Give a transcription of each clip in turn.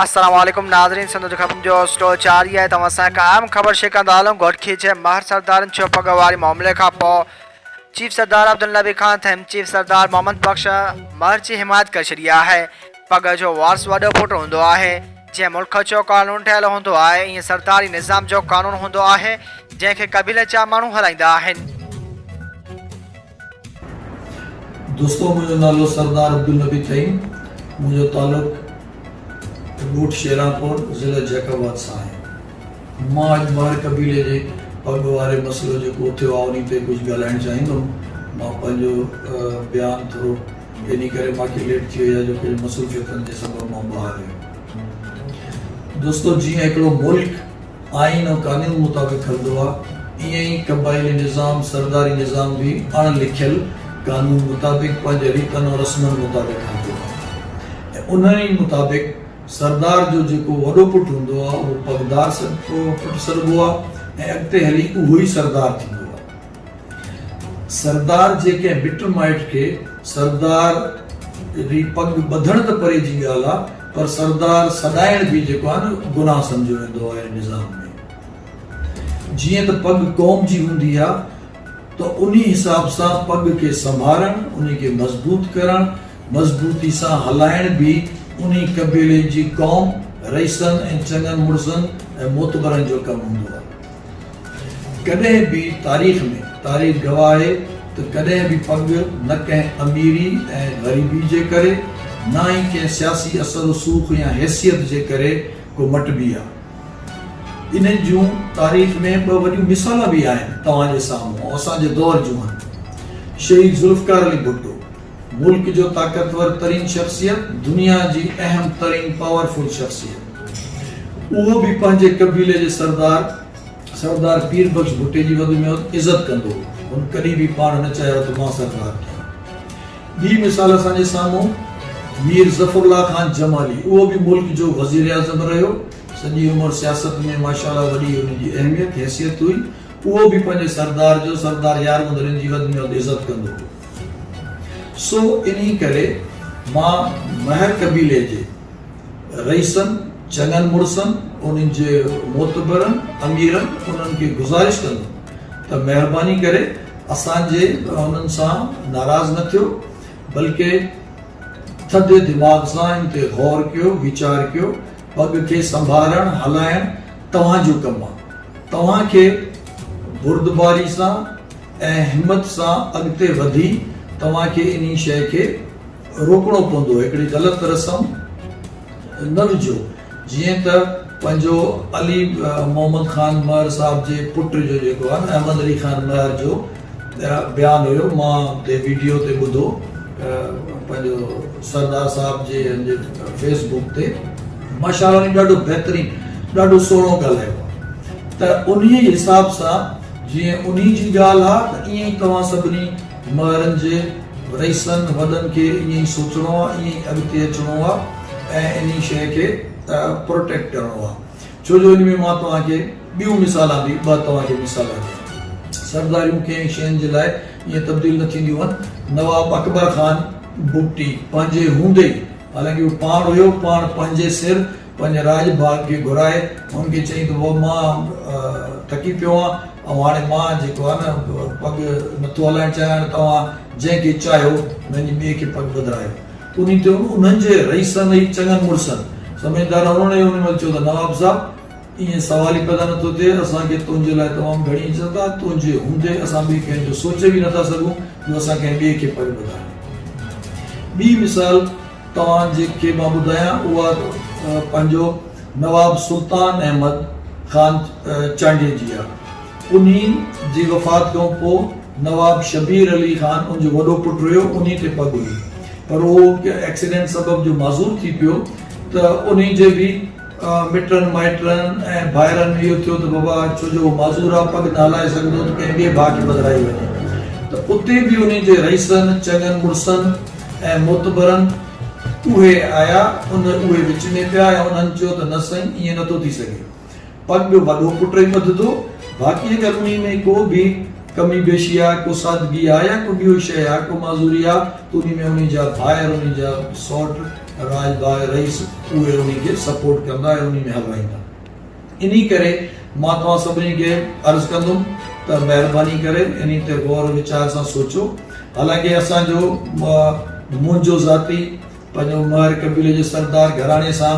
السلام عليڪم ناظرين سنڌ جو خبرن جو اسٽول جاري آهي توهان سان هڪ اهم خبر شيئر ڪندا هلون گهوٽڪي جي مهر سردارن ڇهه پڳ واري معاملي کان پوء چيف سردار عبدالنبي خان ٿهيم چيف سردار محمد بخش مهر جي حمايت ڪري ڇڏي آهي پڳ جو وارث وڏو پٽ هوندو آهي جيئن ملڪ جو قانون ٺهيل هوندو آهي، ائين سرداري نظام جو قانون هوندو آهي، جنهن کي قبيلي جا ماڻهو هلائيندا آهن. دوستو منهنجو نالو سردار عبدالنبي ٿهيم منهنجو تعلق ڳوٺ شيرانپور ضلع جيڪب آباد سان آهي مان اڄ مهر قبيلي جي پڳ واري مسئلو جيڪو اٿيو آهي انهي تي ڪجهه ڳالهائڻ چاهيندم مان پنهنجو بيان ٿورو جنھن ڪري ماکي ليٽ ٿي وئي آھي جو پنھنجي مصروفيتن جي سبب مان ٻاھر آھي. دوستو جيئن ھڪڙو ملڪ آئين ۽ قانون مطابق ھلندو آ ايئن ئي قبائلي نظام سرداري نظام به اڻ لکيل قانون مطابق پنھنجي ريتن ۽ رسمن مطابق ھلندو آ ۽ انھن ئي مطابق سردار جو جيڪو وڏو پٽ ھوندو آ اھو پڳدار پٽ سڏبو آ ۽ اڳتي ھلي اھو ئي سردار ٿيندو آ. سردار جي ڪنهن مٽ مائٽ کي سردار ري پڳ ٻڌڻ ته پري جي ڳالهه آ پر سردار سڏائڻ به جيڪو آ نه گناهه سمجهيو ويندو آهي نظام ۾ جيئن ته پڳ قوم جي هوندي آ ته انهي حساب سان پڳ کي سنڀارڻ انهي کي مضبوط ڪرڻ مضبوطي سان هلائڻ به انهي قبيلي جي قوم رئيسن ۽ چڱن مڙسن ۽ معتبرن جو ڪم هوندو آ. ڪڏهن به تاريخ ۾، تاريخ گواهه آهي ته ڪڏهن به پڳ نه ڪنهن اميري ۽ غريبي جي ڪري، نه ئي ڪنهن سياسي اثر رسوخ يا حيثيت جي ڪري ڪو مٽبي آ. ان جون تاريخ ۾ ٻه وڏيون مثالون به آهن، توهان جي سامهون، ۽ اسان جي دور جون هن. شهيد ذوالفقار علي ڀٽو. ملڪ جو طاقتور ترين شخصيت، دنيا جي اهم ترين پاور فل شخصيت، اهو به پنهنجي قبيلي جي سردار سردار پير بخش ڀٽي جي وڌ ۾ وڌ عزت ڪندو هو. هن ڪڏهن به پاڻ نه چاهيو ته مان سردار ٺهيان. ٻي مثال اسان جي سامهون مير ظفر الله خان جمالي، اهو به ملڪ جو وزيراعظم رهيو، سڄي عمر سياست ۾ ماشاء الله وڏي ان جي اهميت، حيثيت هئي، اهو به پنهنجي سردار جو سردار يار مدرين جي وڌ ۾ وڌ عزت ڪندو هو. سو انهي ڪري مان مهر قبيلي جي رئيسن، چڱن مڙسن، انهن جي معتبرن اميرن، انهن کي گذارش ڪندم ته مهرباني ڪري اسان جي انهن سان ناراض نه ٿيو، بلڪه ٿڌي دماغ سان ان تي غور ڪيو، ويچار ڪيو، پڳ کي سنڀارڻ، هلائڻ توهان جو ڪم آهي، توهان کي بردباري سان. ۽ همت سان اڳتي وڌي توهان کي انهي شيء کي روڪڻو پوندو هڪڙي غلط رسم نه وجهو جيئن ته پنهنجو علي محمد خان مهر صاحب جي پٽ جو جيڪو آهي نه احمد علي خان مهر جو بيان هيو مان هتي ويڊيو تي ٻڌو پنهنجو سردار صاحب جي هنجي فيس بوڪ تي ماشاءالله ڏاڍو بهترين ڏاڍو سهڻو ڳالهايو ته انهي حساب سان جيئن انهي جي ڳالهه آ ته ائين ئي توهان سڀني مهرن جي رئيسن وڏن کي ائين ئي سوچڻو آ ائين ئي اڳتي اچڻو آ ۽ انهي شيء کي پروٽيڪٽ ڪرڻو آ ڇو جو انهي ۾ مان توهان کي ٻيون مثالان به ٻه توهان کي مثال ڏيان ٿو سرداريون ڪنهن شين جي لاء ائين تبديل نه ٿينديون هن نواب اڪبر خان بگٽي پنهنجي هوندي ئي حالانڪه هو پاڻ هيو پاڻ پنهنجي سر پنهنجي راڄ ڀاڳ کي گهرائي هن کي چيائين ته وو مان ٿڪي پيو آهيان ۽ هاڻي مان جيڪو آهي نه پڳ نٿو هلائڻ چاهيان هاڻي توهان جنهن کي چاهيو وڃي ٻئي کي پڳ ٻڌرايو. انهي تي انهن جي رئيسن ۽ چڱن مڙسن سمجهدار هنرن ۽ انهي مهل چيو ته نواب صاحب ائين سوال ئي پيدا نٿو ٿئي اسان کي تنهنجي لاء تمام گهڻي عزت آهي تنهنجي هوندي اسان ٻئي ڪنهن جو سوچي به نٿا سگهون جو اسان ڪنهن ٻئي کي پڳ ٻڌايو ٻي مثال توهان جي کي مان ٻڌايان اها پنهنجو نواب سلطان احمد خان چانڊيي جي آ. انهي جي وفات کان پو نواب شبير علي خان ان جو وڏو پٽ رهيو انهي تي پڳ هئي پر اهو ڪنهن ايڪسيڊنٽ سبب جو معذور ٿي پيو ته انهي جي به مٽن مائٽن ۽ ڀائرن اهو ٿيو ته بابا ڇو جو معذور آ پڳ نه هلائي سگهندو ته ڪنهن ٻئي ڀاء کي بدرائي وڃي ته اتي به انهي جي رئيسن چڱن مڙسن ۽ معتبرن اهي آيا ان اهي وچ ۾ پيا ۽ انهن چيو ته نه سائين ائين نٿو ٿي سگهي پڳ وڏو پٽ ئي ٻڌدو باقي اگر انهي ۾ ڪو به ڪمي بيشي آ ڪو سادگي آ يا ڪو ٻيو شئي آ ڪو معذوري آ ته انهي ۾ انهي جا ڀائر انهي جا سئوٽ راڄ باء رئيس اهي انهي کي سپورٽ ڪندا ۽ انهي ۾ هلرائيندا انهي ڪري مان توهان سڀني کي عرض ڪندم ته مهرباني ڪري انهي تي غور ويچار سان سوچو حالانڪه اسان جو منهنجو ذاتي پنهنجو مهر قبيلي جي سردار گهراڻي سان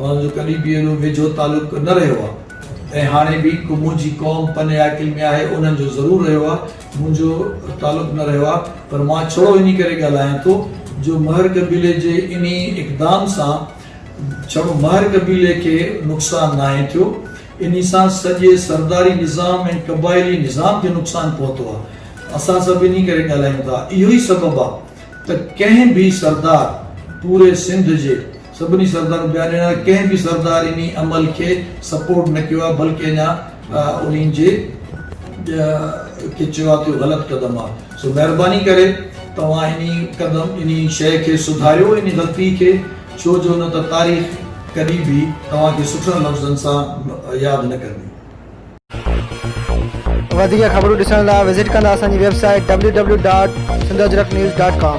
انهن جو ڪڏهن به ايڏو ويجهو تعلق نه رهيو آهي ۽ هاڻي به منهنجي قوم پنهي عاقل ۾ آهي انهن جو ضرور رهيو آهي منهنجو تعلق نه رهيو آهي پر مان ڇڙو انهي ڪري ڳالهايان ٿو جو مهر قبيلي جي انهي اقدام سان ڇڙو مهر قبيلي کي نقصان ناهي ٿيو انهي سان سڄي سرداري نظام ۽ قبائلي نظام کي نقصان پهتو آهي اسان سڀ انهي ڪري ڳالهايون ٿا اهو ئي سبب آهي ته ڪنهن به سردار پوري سنڌ جي سڀني سردارن بيان ڏنل آهي ڪنهن به سردار انهي عمل کي سپورٽ نه ڪيو آهي بلڪه اڃا انهن جي کي چيو آهي ته اهو غلط قدم آهي سو مهرباني ڪري توهان انهي قدم انهي شيء کي سڌاريو انهي غلطي کي ڇو جو نه ته تاريخ ڪڏهن به توهان کي سٺن لفظن سان ياد نه ڪندي. وڌيڪ خبرون ڏسڻ لاء وزٽ ڪندا اسان جي website W W dot Sindh Ajrak news dot ڪام